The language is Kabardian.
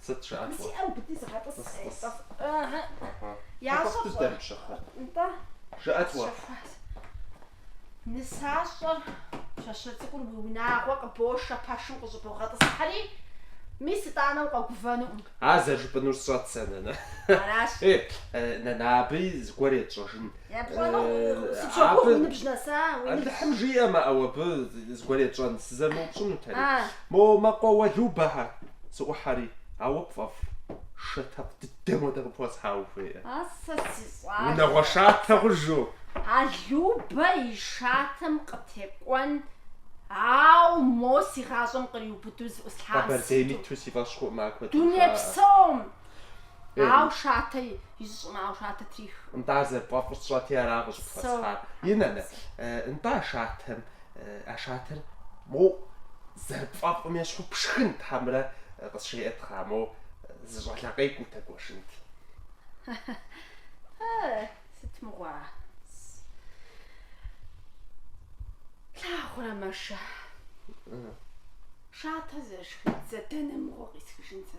Сыт жыпӏэр? Тхьэкӏуэпсыр дэмыпщэхур? Жыӏэт уэ? Ар зэрыжыпӏэнур сщӏэрт сэ, нанэ. Нанэ, абыи зыгуэр етщӏэжынщ. Алыхьым жиӏэмэ, ӏэу абы зыгуэр етщӏэнщ, сызэрымыупщӏынутэри. Мо мэкъуэ Уэлубэхэ, сыӏухьэри, ауэ пфӏэфӏу шатэкъу дыдэм хуэдэ къыпхуэсхьа ухуейкъэ? А сэ си щӏалэ! Унагъуэ шатэ хъужу! Алубэ и шатэм къытекӏуэн, ауэ мо си гъащӏэм къриубыдэу зыӏуслъам сыту! Къэбэрдейм иту си фӏэщ хъукъым, ар куэдым жаӏэ. Дунейпсом! Ау шатэ изыщӏым, ау шатэ трих. Нтӏа зэрыпфӏэфӏыр сщӏэти ара къыщӏыпхуэсхьар. И нанэ, нтӏа шатэм, а шатэр моу зэрыпфӏэфӏым ещхьу пшхын тхьэмрэ къысщеӏэтхьа, моу зы щӏакхъуэ къегутэ гуэшынт. Сыт мыгъуа? Плъагъурэ мэшэ. Шатэ зэрышхын дзэ дэнэ мыгъуэ къисхыжын сэ